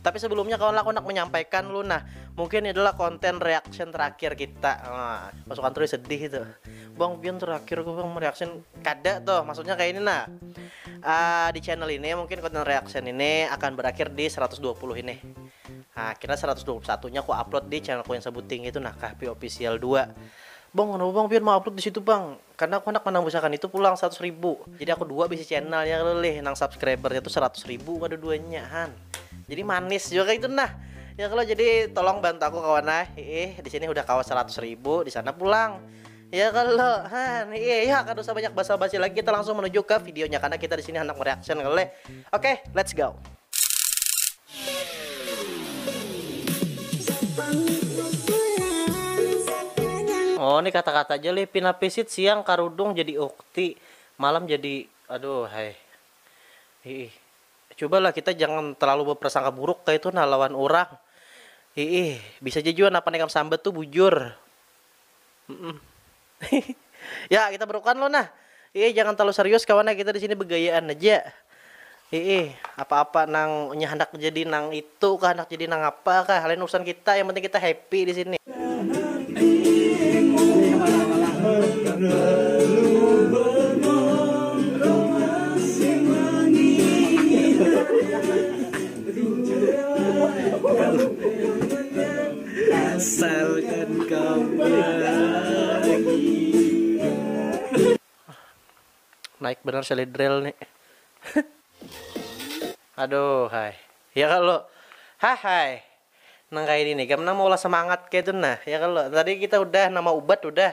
Tapi sebelumnya kawan aku nak menyampaikan lu nah Mungkin ini adalah konten reaction terakhir kita nah, Masuk kantor sedih itu Bang Bian terakhir gue bang mereaction Kada tuh maksudnya kayak ini nah uh, Di channel ini mungkin konten reaction ini akan berakhir di 120 ini Nah kira 121 nya aku upload di channelku yang sebuting itu nah Kahpi Official 2 Bang kenapa bang Bian mau upload di situ bang Karena aku handak manambusakan itu pulang seratus ribu. Jadi aku dua bisi channel ya kalo leh nang subscribernya tuh seratus ribu kada duanya han. Jadi manis jua kaitu nah. Ya kalo jadi tolong bantu aku kawan ah. Hiih di sini hudah kawa seratus ribu di sana pulang. Ya kalo han hiih ya kada usah banyak basa basi lagi kita langsung menuju ke videonya karena kita di sini handak mereaction kalo leh. Oke, okay, let's go. Oh ni kata kata ja lih pina pisit siang karudung jadi ukti malam jadi aduh hai hiih cuba lah kita jangan terlalu berprasangka buruk kaitu nah lawan urang hiih bisa ja jua napa nang ikam sambat tu bujur. ya kita berukan lo nah Iih jangan terlalu serius kawan kita di sini begayaan aja Iih apa-apa nang nya hendak jadi nang itu kah hendak jadi nang apa kah lain urusan kita yang penting kita happy di sini Asalkan kau bahagia. Naik bener seli drill nih. Aduh hai. Ya kalau hahai. Nang kaya ini nih, gam nang maulah semangat kaytu nah. Ya kalau tadi kita udah nama ubat udah.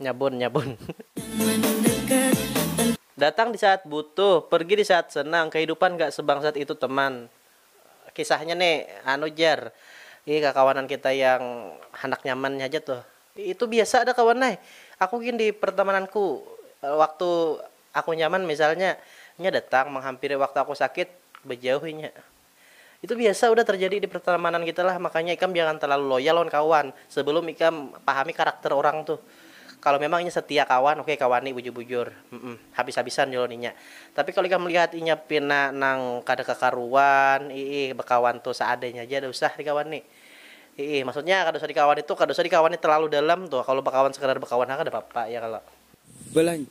Nyabun nyabun. Datang di saat butuh, pergi di saat senang, kehidupan gak sebangsat itu teman. Kisahnya nih anu jar, ini kakawanan kita yang handak nyaman nya haja tuh. Itu biasa ada kawan ai, aku gin di pertemananku waktu aku nyaman misalnya, inya datang menghampiri waktu aku sakit, bejauh inya. Itu biasa udah terjadi di pertemanan kita lah, makanya ikam jangan terlalu loyal lawan kawan sebelum ikam pahami karakter orang tuh. Kalo memang inya setia kawan, oke kawani bujur-bujur, mm habis-habisan jua lawan inya. Tapi kalo ikam melihat inya pina nang kada kakaruan, iih bekawan tuh seadanya haja kada usah dikawani. Iih maksudnya kada usah dikawani tuh kada usah dikawani terlalu dalam tuh, kalo bekawan sekadar bekawan ha kada papa ya kalo. Balanjut,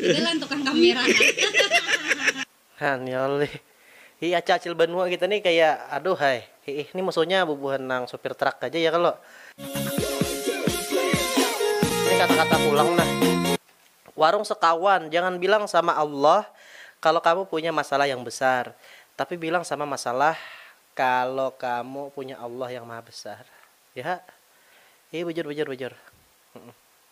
Ini lain tukang kamera nah. Hanyal nih. Hi aca acil banua kita nih kaya aduhai. Hiih nih musuhnya bubuhan nang supir truck haja ya kalo. Ini kata kata pulang nah. Warung sekawan jangan bilang sama Allah kalo kamu punya masalah yang besar tapi bilang sama masalah kalo kamu punya Allah yang maha besar. Yahak. Hi bujur bujur bujur.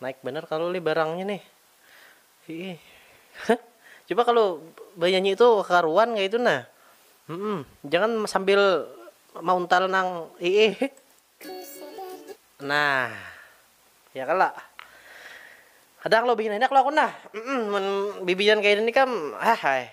Naik bener kalu lih barangnya nih. Hiih. Coba kalau banyanyi itu karuan kayak itu nah. Mm -mm. Jangan sambil mauntal nang hiih. Nah. Ya kala. Kadang lo bikin enak lo aku nah. Mm -mm. Bibian kayak ini kam. Ah, hai.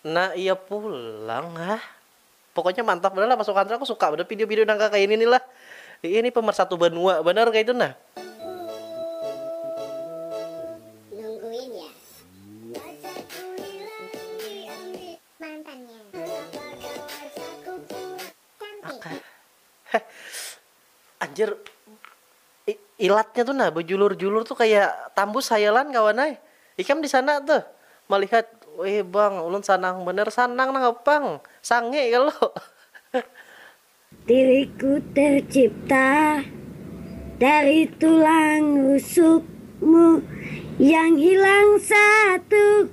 Nah iya pulang hah. Pokoknya mantap banar lah pasukan aku suka banar video video nang kaya ini nih lah. Iya nih pemersatu banua banar kaya itu nah. Heh anjir. Ilatnya tu nah bejulur-julur tu kaya tambus hayalan kawan ai. Ikam disana tuh malihat wih bang ulun sanang banar, sanang nangapa pang sange kalo. Diriku tercipta dari tulang rusukmu yang hilang satu.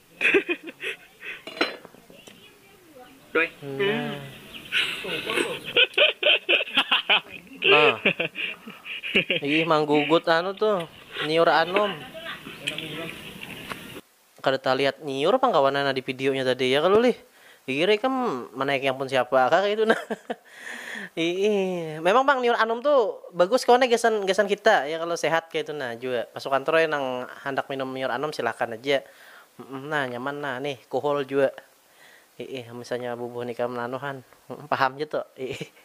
Nah. Ih manggugut anu tuh, nyiur anum. Kada talihat nyiur pang kawanan di videonya tadi ya kalu lih. Pikir ikam manaiki ampun siapa kah kaitu nah. Iih. Memang pang Niur Anum tu bagus kawannya gasan gasan kita ya kalo sehat kaitu nah jua. Pasukan Troy nang handak minum Niur Anum silahkan haja. Humm nah nyaman nah nih kuhul jua. Iih misalnya bubuhan ikam nanuhan. Humm paham ja tu. Iih.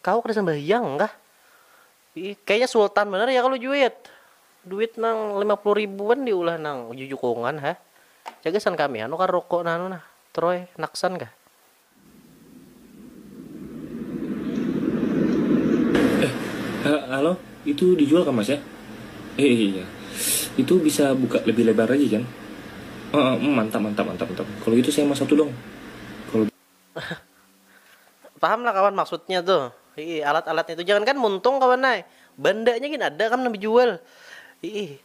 Kawa kada sambahyang kah? Kayaknya sultan banar ya kalu juit. Duit nang lima puluh ribuan diulah nang jujukungan ha. Cak gasan kami anu kah ruko nang anu nah, Troy, Naksan kah? Eh, halo, itu dijual kah mas ya? Eh, iya, iya. Itu bisa buka lebih lebar lagi kan? Eh, eh, mantap, mantap, mantap, mantap. Kalau gitu saya mau satu dong. Kalau. Paham lah kawan maksudnya tu. Hiih, alat-alatnya tu. Jangankan muntung kawan ai. Bandanya gin ada kawan nang bejual. Hiih.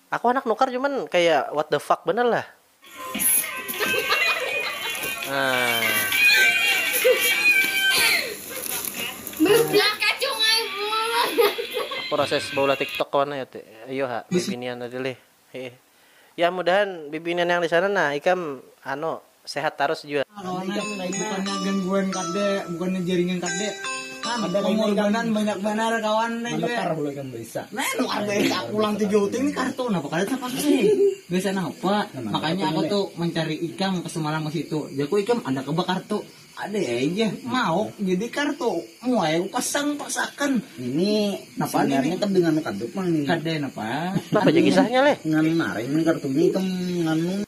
Aku handak nukar cuman kaya what the fuck banar lah. Proses baulah tiktok kawan ai. Ayo ha, kayak binian tadi lih. Heeh. Yah mudahan bibinian yang disana nah ikam anu sehat tarus jua. Bukannya gangguan kada, bukannya jaringan kada, kada pengorbanan banyak banar kawan ne jua. Menukar bulu ikam baisa. Menukar baisa pulang tu jauh tu ini kartu napa kada tapakai. Baisa napa? Makanya aku tu mencari ikam semalam ke situ. Jaku ikam ada kah ba kartu. Ada ai ja mauk jadi kartu muai ku pasang paksakan ini napa ini kad dengan kadut mang ini kada napa napa ja kisahnya leh ngan naring nang kartunya ikam nganu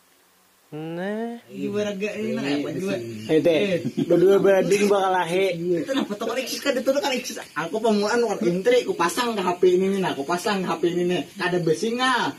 bedua bading bakalahi itu napa tu kalixis kada tu kalixis aku pamulaan wan intri ku pasang ka hp ini ni nah ku pasang ka hp ini ni kada besingal.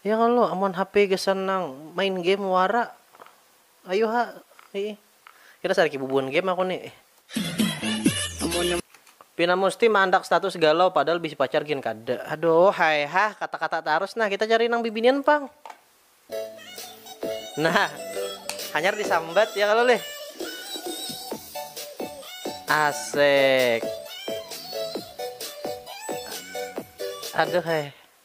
Ya kalo amun hape gasan nang main game wara ayu ha ih kita sariki bubuhan game aku ni ih. Pina musti maandak status galau padahal bisi pacar gin kada aduh hai hah kata kata tarus nah kita cari nang bibinian pang nah hanyar di sambat ya kalo lih asek aduh hai.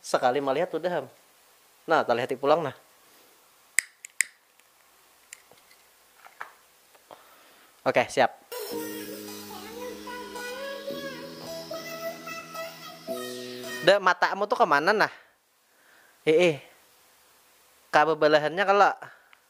Sakali malihat hudah am. Nah talihati pulang nah. Oke siap. Da matamu tu kemana nah. Hiih. Ka bebalahannya kalo.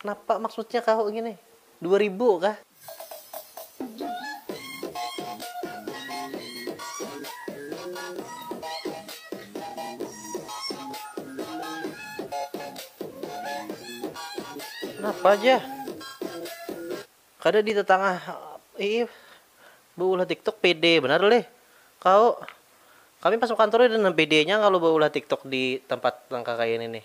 Napa maksudnya kahu ngini? Dua ribu kah? Napa jah? Kada di tatangah ii beulah tiktok pede banar lih kahu. Kami pas bakantor udah nang pedenya kalu beulah tiktok di tempat nang kakaya ini nih.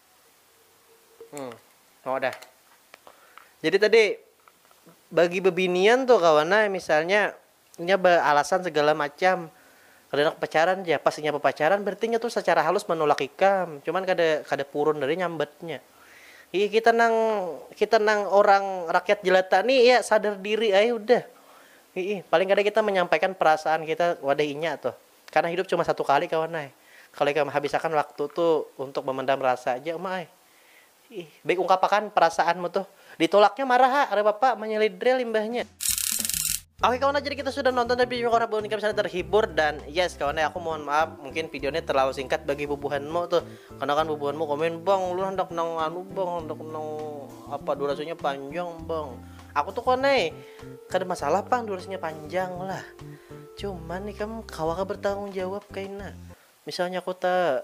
Hmm. Oh dah. Jadi tadi bagi bebinian tuh kawana misalnya nya beralasan segala macam kada nak pacaran ja pas inya bepacaran berarti nya tuh secara halus menolak ikam cuman kada kada purun dari nyambatnya iya kita nang kita nang orang rakyat jelata nih ya sadar diri ay udah Ii, paling kada kita menyampaikan perasaan kita wadah inya tuh Karna hidup cuma satu kali kawan ai, kalo ikam habisakan waktu tu untuk memendam rasa ja uma ai. Ih, baik ungkapakan perasaanmu tuh. Ditolaknya marah ha, Re Bapa menyelidril imbahnya. Oke kawan ai, jadi kita sudah nonton tadi video Korah Buhannya misalnya terhibur dan yes kawan ai, aku mohon maaf mungkin video ini terlalu singkat bagi bubuhanmu tuh. Karena kan bubuhanmu komen, Bang ulun handak nang anu bang, handak nang apa durasinya panjang bang. Aku tuh kawan ai, kada masalah pang durasinya panjang lah. Cuman ikam kawa kah bertanggung jawab kaina? Misalnya aku ta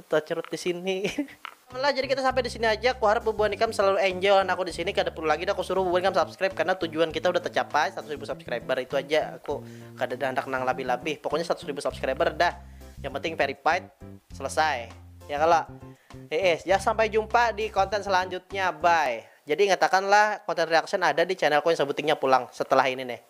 tacrut di sini. Lah jadi kita sampai di sini aja, kuharap bubuhan ikam selalu enjoy lawan aku di sini, kada perlu lagi dah kusuruh bubuhan ikam subscribe karena tujuan kita udah tercapai seratus ribu subscriber itu aja aku kadada handak nang labih-labih, pokoknya seratus ribu subscriber dah yang penting verified selesai ya kalo? Heeh ya sampai jumpa di konten selanjutnya bye. Jadi ingatakanlah konten reaction ada di channelku yang sebutingnya pulang setelah ini nih.